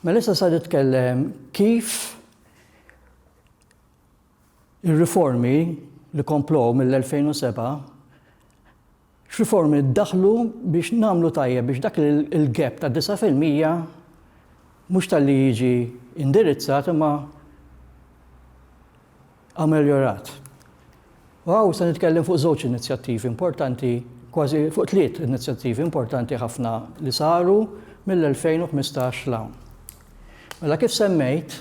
Mela issa sa nitkellem kif ir-riformi li komplow mill-2007 X'riformi ddaħħlu biex nagħmlu tajjeb biex dak il-gap ta' disa' fil-mija mhux talli jiġi indirizzat imma ameljorat? U hawn se nitkellem fuq żewġ inizjattivi importanti, kważi fuq tliet inizjattivi importanti ħafna li saru mill-2015 'l hawn. Mela kif semmejt,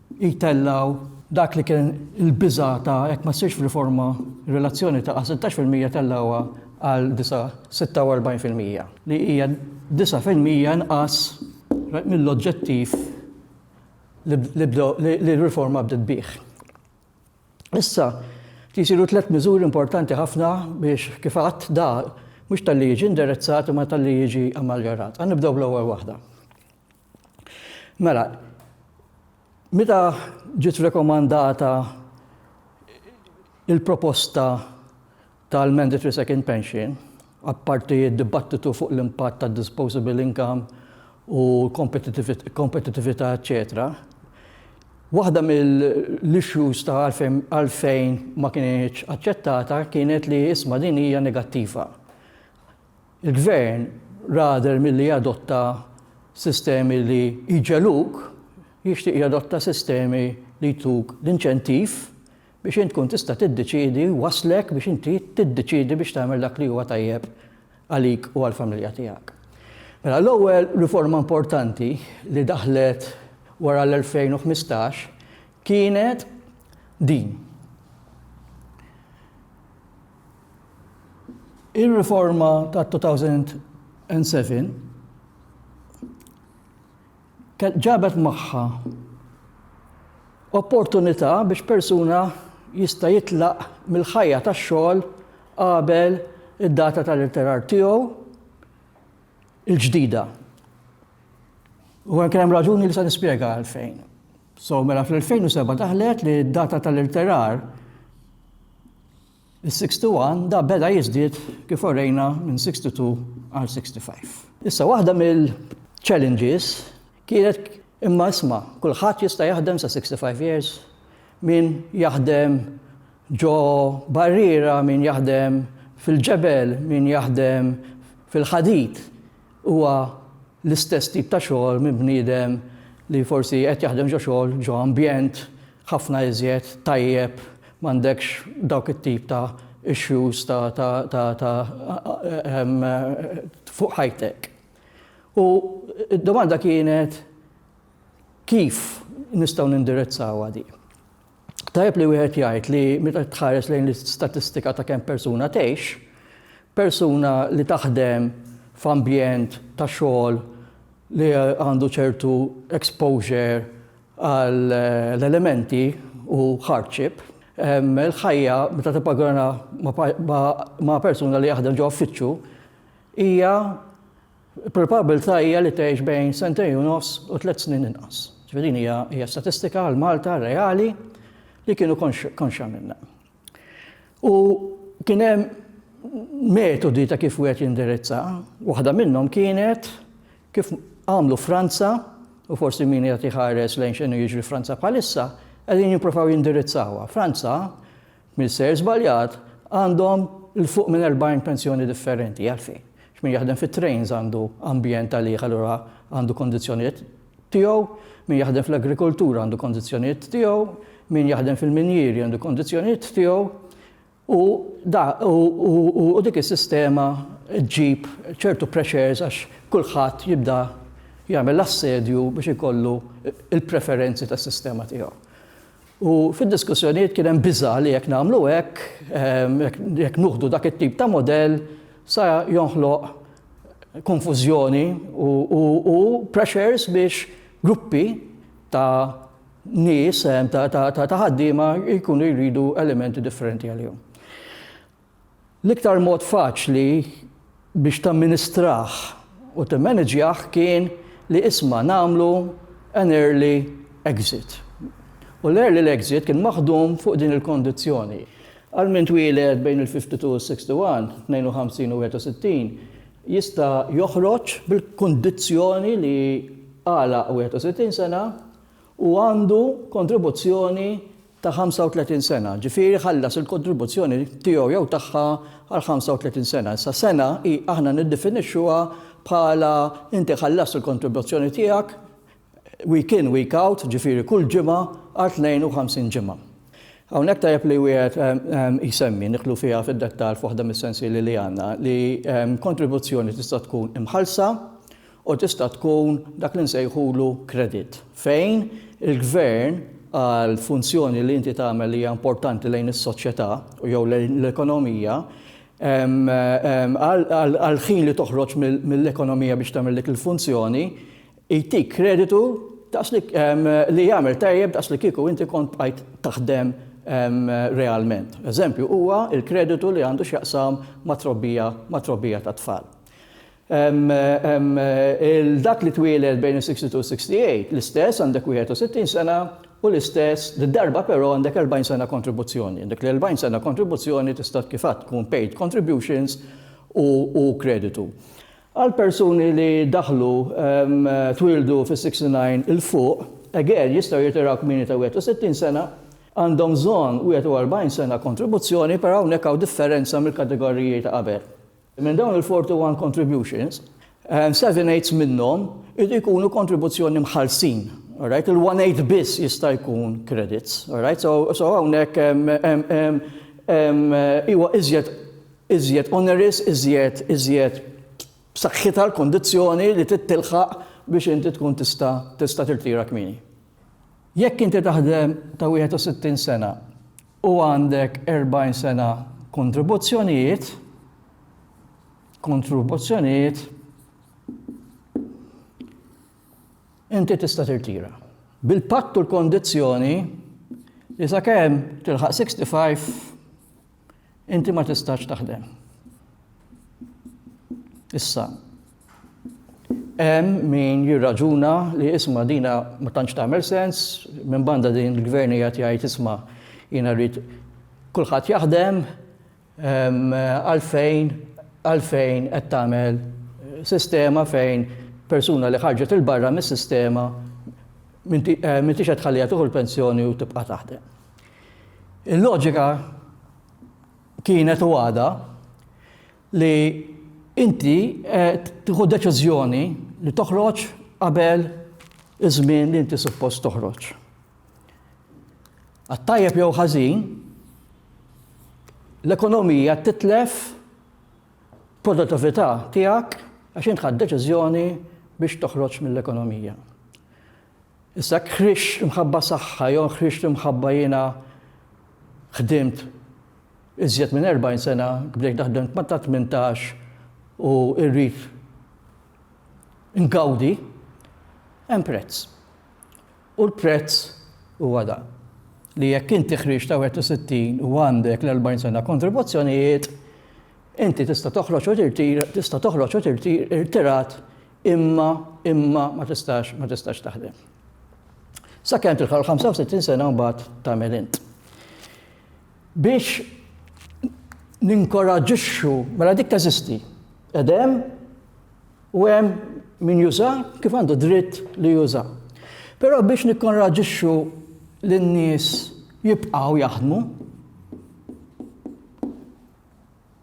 jtellgħu dak li kien il-biża' ta' jekk ma ssirx riforma r-relazzjoni ta' sittax fil-mija tellgħuha għal disa' sitta u erbgħin fil-mija, li hija disa' fil-mija inqas mill-oġġettiv li r-riforma bdiet bih. Issa, jsiru tliet miżuri importanti ħafna biex, kif għadt, da mhux talli jiġi indirizzat imma talli jiġi ammeljorat. Ħa nibdew bl-ewwel waħda. Mela, meta ġiet rekomandata il-proposta tal-mandatory second pension, apparti d-dibattitu fuq l-impatt tad disposable income u kompetitività, eċetera, waħda mill-issues ta' għalfejn ma kienx aċċettata kienet li isma' din hija negattiva. Il-Gvern rather milli jadotta sistemi li jġegħluk, jixtieq jadotta sistemi li jtuk l-inċentiv biex int tkun tista' tiddeċiedi, jwasslek biex inti tiddeċiedi biex tagħmel dak li huwa tajjeb għalik u għall-familja tiegħek. Mela l-ewwel riforma importanti li daħlet wara l-2015 kienet din. Ir-riforma tat-2007 ġabet magħha opportunità biex persuna jista' jitlaq mill-ħajja tax-xogħol qabel id-data tal-irtirar tiegħu l-ġdida. U kien hemm raġuni li se nispjega għalfejn. So mela fl-2007 daħlet li d-data tal-irtirar Is-61 da beda jiżdied kif orejna minn 62 għal 65. Issa waħda mill challenges kienet imma isma' kulħadd jista' jaħdem sa 65 years, min jaħdem ġo barriera, min jaħdem fil-ġebel, min jaħdem fil-ħadid huwa l-istess tip ta' xogħol minn bniedem li forsi qed jaħdem ġo xogħol, ġo ambjent ħafna iżjed tajjeb, m'għandekx dawk it-tip ta' issues ta' ta' ta' ta' fuq ħajtek. U d-domanda kienet kif nistgħu nindirizzawha din. Tajjeb li wieħed jgħid li meta tħares lejn l-istatistika ta' kemm persuna tgħix, persuna li taħdem f'ambjent ta' xogħol li għandu ċertu exposure għal l-elementi u hardship, il-ħajja meta tippagorana ma' persuna li jaħdem ġo uffiċċju hija Il-probabilità hija li tgħix bejn sentejn u nofs u tliet snin inqas. Ġifieri din hija hija statistika għal Malta reali li kienu konxja minnha. U kien hemm metodi ta' kif wieħed jindirizza, waħda minnhom kienet kif għamlu Franza u forsi min qed iħares lejn x'inhu jiġri Franza bħalissa, qegħdin jippruvaw jindirizzawha. Franza Min sejr żbaljat għandhom 'l fuq minn erbgħin pensjoni differenti. Għalfejn? X'min jaħdem fit-trains għandu ambjent għalih allura għandu kondizzjonijiet tiegħu, min jaħdem fl-agrikoltura għandu kondizzjonijiet tiegħu, min jaħdem fil-minjieri għandu kondizzjonijiet tiegħu u da u, u, u, u dik is-sistema ġġib ċertu pressures għax kulħadd jibda jagħmel assedju biex ikollu il-preferenzi tas-sistema tiegħu. U fid-diskussjonijiet kien hemm biża' li jekk nagħmlu hekk, jekk nuħdu dak it-tip ta' mudell, sa jonħloq konfużjoni u pressures biex gruppi ta' nies, ta' ħaddiema jkunu jridu elementi differenti għalihom. L-iktar mod faċli biex tamministrah u timmaniġjah kien li isma' nagħmlu an early exit. U l-early l-exit kien maħdum fuq din il-kondizzjoni. Għal min twieled bejn il-52 u s-61, 52 u 61, jista' joħroġ bil-kondizzjoni li għalaq 61 sena u għandu kontribuzzjoni ta' 35 sena, ġifieri ħallas il-kontribuzzjoni tiegħu jew tagħha għal 35 sena. Issa sena hi aħna niddefinixxuha bħala inti ħallast il-kontribuzzjoni tiegħek week in week out, ġifieri kull ġimgħa għal 52 ġimgħa. Hawnhekk tajjeb li wieħed jsemmi, nidħlu fiha fid-dettall f'waħda mis-sensieli li għandna, li kontribuzzjoni tista' tkun imħallsa, u tista' tkun dak li nsejħulu credit, fejn il-gvern għal funzjoni li inti tagħmel li hija importanti lejn is-soċjetà jew lejn l-ekonomija, għall-ħin li toħroġ mill-ekonomija biex tagħmel dik il-funzjoni, jtik kreditu daqs li li jagħmel tajjeb daqs li kieku inti kont bqajt taħdem realment. Eżempju huwa l-kreditu li għandu x'jaqsam mat-trobbija mat-trobbija tat-tfal. 'l dak li twieled bejn is-62 u s-68, l-istess għandek 61 sena u l-istess, did-darba però għandek 40 sena kontribuzzjoni. Dik l-40 sena kontribuzzjoni tista' kif għadt tkun paid contributions u kreditu. Għall-persuni li daħlu, twieldu fis-69 'l fuq, again, jistgħu jirtiraw kmieni ta' 61 sena, għandhom bżonn 41 sena kontribuzzjoni, però hawnhekk hawn differenza mill-kategoriji ta' qabel. Minn dawn il-41 contributions, seven eighths minnhom iridu jkunu kontribuzzjoni mħallsin. All right? Il-one eighth biss jista' jkun credits. All right? So, so hawnhekk huwa iżjed iżjed onerous, iżjed iżjed b'saħħitha l-kondizzjoni li tittilħaq biex inti tkun tista' tista' tirtira kmieni. Jekk inti taħdem ta' 61 sena u għandek 40 sena kontribuzzjonijiet, kontribuzzjonijiet, inti tista' tirtira. Bil-patt u l-kondizzjoni li sakemm tilħaq 65 Inti ma tistax taħdem. Issa, hemm min jirraġuna li isma' dina ma tantx tagħmel sens, minn banda din il-gvern hija jgħid isma' jiena rrid kulħadd jaħdem ehm, għalfejn għalfejn qed tagħmel sistema fejn persuna li ħarġet il-barra mis-sistema eh, minti qed tħallija tuħu l-pensjoni u tibqa' taħdem. Il-loġika kienet u għadha li inti qed tieħu deċiżjoni li toħroġ qabel iż-żmien li inti suppost toħroġ. Għat-tajjeb jew ħażin, l-ekonomija titlef produttività tiegħek għax int ħadd deċiżjoni biex toħroġ mill-ekonomija. Issa jekk ħriġt imħabba saħħa jew ħriġt imħabba jiena ħdimt iżjed minn 40 sena, bdejt naħdem ma' ta' tmintax u rrid ngawdi, hemm prezz. U l-prezz huwa dan, li jekk inti ħriġt ta' 61 u għandek l-40 sena kontribuzzjonijiet, inti tista' toħroġ u tirtira, tista' toħroġ u tirtira, irtirat Imma, imma ma tistax, ma tistax taħdem. Sakemm tilħaq il-65 sena mbagħad tagħmel int. Biex ninkoraġixxu, mela dik teżisti. Edem u hemm min juża kif għandu dritt li juża. Però biex nikkonraġixxu lin-nies jibqgħu jaħdmu,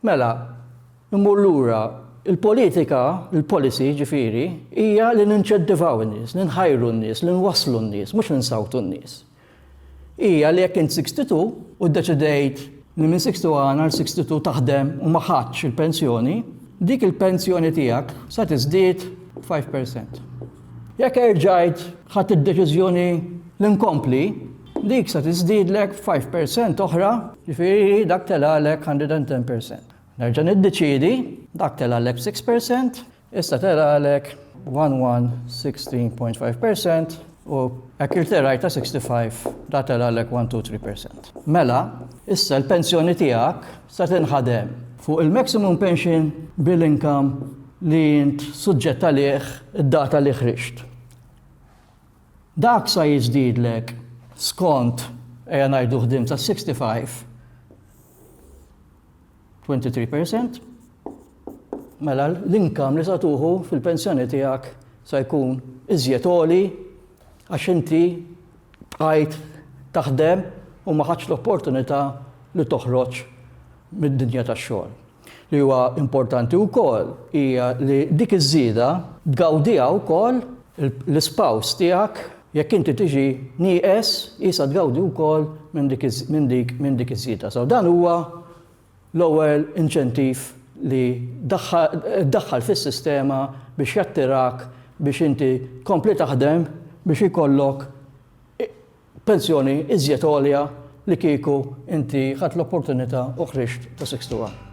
Mela, immur lura, il-politika, il-policy jiġifieri, hija li ninċentivaw in-nies, li nħajru n-nies, li nwasslu n-nies, mhux li nsawtu n-nies. Hija li jekk int 62 u ddeċidejt li minn 61 għal 62 taħdem u ma ħadtx il-pensjoni, dik il-pensjoni tiegħek se tiżdied b'5%. Jekk erġajt ħadt id-deċiżjoni li nkompli, Dik se tiżdiedlek b'five per cent oħra, jiġifieri dak telgħalek hundred and ten per cent. Nerġa' niddeċiedi, dak telgħalek b'six per cent, issa telgħalek one one sixteen point five per cent u hekk irterajt ta' sixty five da telgħalek one two three per cent. Mela, issa l-pensjoni tiegħek se tinħadem fuq il-maximum pension bil-income li int suġġett għalih id-data li ħriġt. Dak sa jiżdiedlek skont, ejja ngħidu ħdimt sa 65, 23 percent, mela l-inkam li sa tuħu fil-pensjoni tiegħek sa jkun iżjed oli għax inti bqajt taħdem u ma ħadx l-opportunità li toħroġ mid-dinja tax-xogħol. Li huwa importanti wkoll hija li dik iż-żieda tgawdiha wkoll l-ispouse tiegħek, jekk inti tiġi nieqes qisha tgawdi wkoll minn dik iż-żieda. So dan huwa l-ewwel inċentiv li ddaħħal fis-sistema biex jattirak biex inti tkompli taħdem biex ikollok Pensjoni iżjed għolja li kieku inti ħadt l-opportunità u ħriġt ta' Six to One.